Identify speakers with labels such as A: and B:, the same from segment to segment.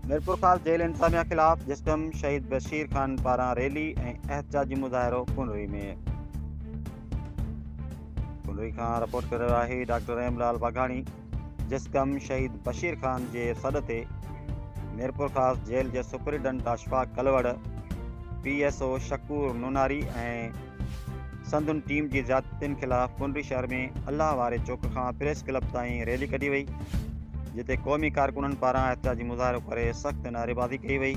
A: Mirpurkhas jail انتظاميا خلاف جسقم شهيد بشير خان پاران ريلي ۽ احتجاجي مظاهرو ڪنري ۾ ڪنري کان رپورٽ ڪري رهيو آهي ڊاڪٽر رحيم لال واگهاڻي جسقم شهيد بشير خان جي سڏ تي ميرپورخاص جيل جي superintendent Ashfaq Kalor P S O Shakoor Nonari ۽ سندن ٽيم جي زيادتين خلاف ڪنري شهر ۾ الله واري چوڪ کان پريس ڪلب تائين ريلي ڪڍي وئي جتي قومي ڪارڪنن پاران احتجاجي مظاهرو ڪري سخت نعريبازي ڪئي وئي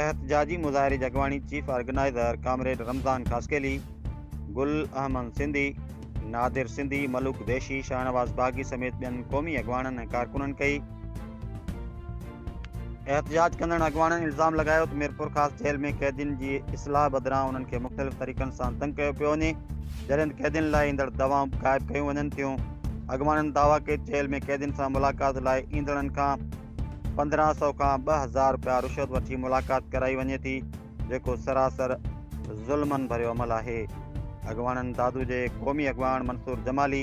A: احتجاجي مظاهري جي اڳواڻي chief organizer comrade Ramzan Khaskheli Gul Ahmed Sindhi Nadir Sindhi Malook Deshi Shahnawaz Baghi سميت ٻين قومي اڳواڻن ۽ ڪارڪنن ڪئي احتجاج ڪندڙن اڳواڻن الزام لڳايو ته ميرپورخاص جيل ۾ قيدين جي اصلاح بدران انهن کي مختلف طريقن سان تنگ ڪيو پيو وڃي جڏهن قيدين لاء ايندڙ دوائون به غائب ڪيون وڃن ٿيون اڳواڻن دعويٰ ڪئي ته جيل ۾ قيدين سان ملاقات لاء ايندڙن کان پندرهن سؤ کان ٻه هزار رپيا رشوت وٺي ملاقات ڪرائي وڃي ٿي جيڪو سراسر ظلمن ڀريو عمل آهي. اڳواڻن دادو جي قومي اڳواڻ منصور جمالي،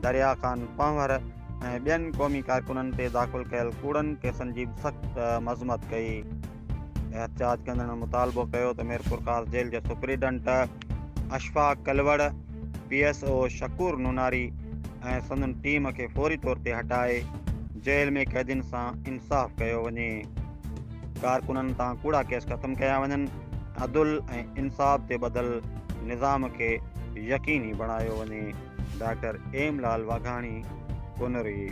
A: دريا خان پنهور ۽ ٻين قومي ڪارڪنن تي داخل ڪيل ڪوڙن ڪيسن جي به سخت مذمت ڪئي. احتجاج ڪندڙن مطالبو ڪيو ته ميرپورخاص جيل جي superintendent Ashfaq Kalor, P S O Shakoor Nonari ۽ سندن ٽيم کي فوري طور تي هٽائي جيل ۾ قيدين سان انصاف ڪيو وڃي. ڪارڪنن تان ڪوڙا ڪيس ختم ڪيا وڃن، عدل ۽ انصاف تي ٻڌل نظام کي يقيني بڻايو وڃي، ڊاڪٽر ايم لال واگهاڻي، ڪنري.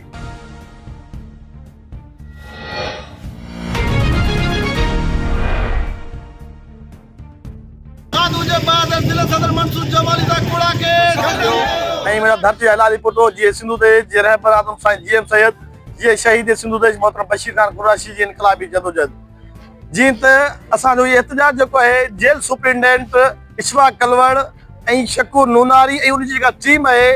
B: ساڌو جي بعد ضلع صدر منصور جمالي دا ڪوڙا ڪيس ۽ منهنجا ڌرتي جا حلالي پٽ جي اي سنڌو ديش جي رهبر اعظم سائين جي ايم سيد جي اي شهيد سنڌو ديش محترم بشير خان قراشي جي انقلابي جدوجهد جين ته اسان جو اهي احتجاج جيڪو آهي جيل سپرنٽنڊنٽ اشفاق ڪلوڙ ۽ شڪور نوناري ۽ ان جي جيڪا ٽيم آهي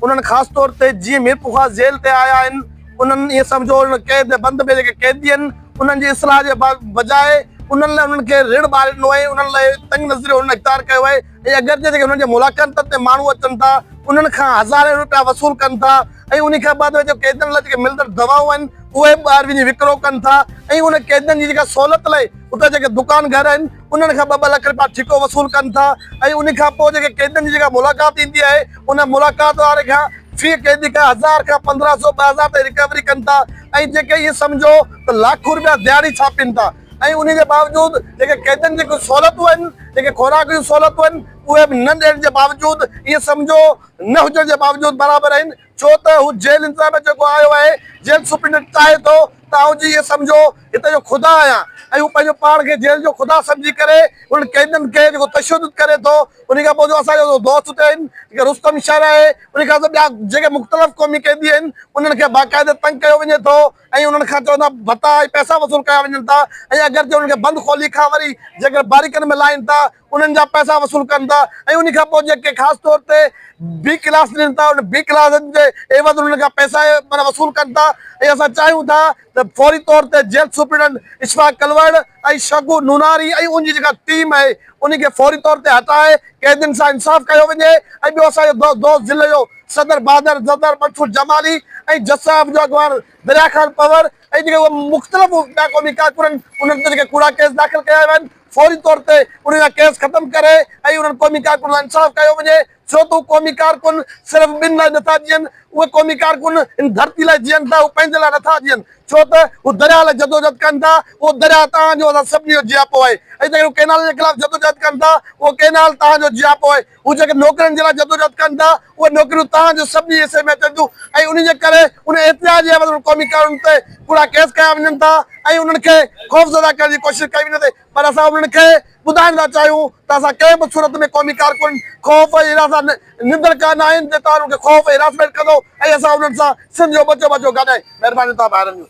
B: انهن خاص طور تي جي ميرپورخاص جيل تي آيا آهن انهن ائين سمجهو هن قيد بند ۾ جيڪي قيدي آهن انهن جي اصلاح جي بجاء انهن لاء انهن کي رڙ ٻار ڏنو آهي انهن لاء تنگ نظريو هنن اختيار ڪيو آهي ۽ اگرچه جيڪي انهن جي ملاقاتن تي ماڻهو اچن ٿا انهن کان هزارين روپيا وصول ڪن ٿا ۽ انهي کان بعد جو قيدين لاء جيڪي ملندڙ دوائون آهن اهي ٻاهر وڃي وڪرو ڪن ٿا ۽ انهن قيدين جي جيڪا سهولت لاء اتي جيڪي دڪان گهر آهن انهن کان ٻه ٻه لک رپيا ٺيڪو وصول ڪن ٿا ۽ ان کان پوء جيڪي قيدين جي جيڪا ملاقات ٿيندي آهي ان ملاقات واري کان في قيدي کان هزار کان پندرهن سو ٻه هزار تائين رڪوري ڪن ٿا ۽ جيڪي ائين سمجهو ته لاکون رپيا دهاڙي ڇاپين ٿا ۽ انهي جي باوجود جيڪي قيدين جي ڪجهه سهولتون آهن جيڪي خوراڪ جون سهولتون آهن اهي به نه ڏيڻ جي باوجود ائين سمجهو نه هجڻ جي باوجود برابر آهن ڇو ته هو جيل انتظاميا ۾ جيڪو آيو آهي، جيل سپرنٽينڊنٽ چاهي ٿو ته آئون جي اهي سمجهو هتي جو خدا آهيان ۽ هو پنهنجو پاڻ کي جيل جو خدا سمجهي ڪري انهن قيدين کي جيڪو تشدد ڪري ٿو انهي کان پوء جو اسان جو دوست اتي آهن جيڪي رستم شر آهي انهي کان سواء ٻيا جيڪي مختلف قومي قيدي آهن انهن کي باقاعده تنگ ڪيو وڃي ٿو. ۽ انهن کان چوندا ڀتا ۽ پئسا وصول ڪيا وڃن ٿا ۽ اگر جي انهن کي بند کولي کان وري جيڪر باريڪن ۾ لاهين ٿا انهن جا پئسا وصول ڪن ٿا ۽ انهي کان پوء جيڪي خاص طور تي بي ڪلاس ڏين ٿا انهن بي ڪلاسن جي عيوض انهن کان پئسا معنيٰ وصول ڪن ٿا ۽ اسان چاهيون ٿا ته فوري طور تي جيل سپريڊنٽ اشفاق ڪلوئڙ ۽ شگو نوناري ۽ ان جي جيڪا ٽيم آهي انهي کي فوري طور تي هٽائي قيدين سان انصاف ڪيو وڃي ۽ ٻيو اسان جو دوست ضلعي جو صدر بهادر زردار منصور جمالي ۽ جسٽس آف جو اڳواڻ دريا خان پنور ۽ جيڪي اهي مختلف ٻيا قومي ڪارڪن آهن انهن تي جيڪي ڪوڙا ڪيس داخل ڪيا ويا آهن فوري طور تي انهن جا ڪيس ختم ڪري ۽ انهن قومي ڪارڪن سان انصاف ڪيو وڃي. ڇو ته اهي قومي ڪارڪن صرف ٻن لاء نٿا جيئن، اهي قومي ڪارڪن ان ڌرتي لاء جيئن ٿا، هو پنهنجي لاء نٿا جيئن، ڇو ته هو درياهه لاء جدوجهد ڪن ٿا، اهو درياهه توهان جو اسان سڀني جو جياپو آهي ۽ جيڪڏهن هو ڪئنالن جي خلاف جدوجهد ڪن ٿا، اهو ڪئنال توهان جو جياپو آهي، هو جيڪي نوڪرين جي لاء جدوجهد ڪن ٿا، اهي نوڪريون توهان جو سڀني حصي ۾ اچن ٿيون ۽ انهي جي ڪري ان احتجاج جي عيوض انهن قومي ڪارڪنن تي ڪوڙا ڪيس ڪيا وڃن ٿا ۽ انهن کي خوفزده ڪرڻ جي ڪوشش ڪئي وڃي ٿي. پر اسان انهن کي ٻڌائڻ ٿا چاهيون ته اسان ڪنهن به صورت ۾ قومي ڪارڪن خوف ۽ هراس سان نندڙ ڪا ناهن جي توهان انهن کي خوف ۽ هراسمينٽ ڪندو ۽ اسان انهن سان سنڌ جو ٻچو ٻچو گڏ آهي مهرباني ٿا ڀائرن جون.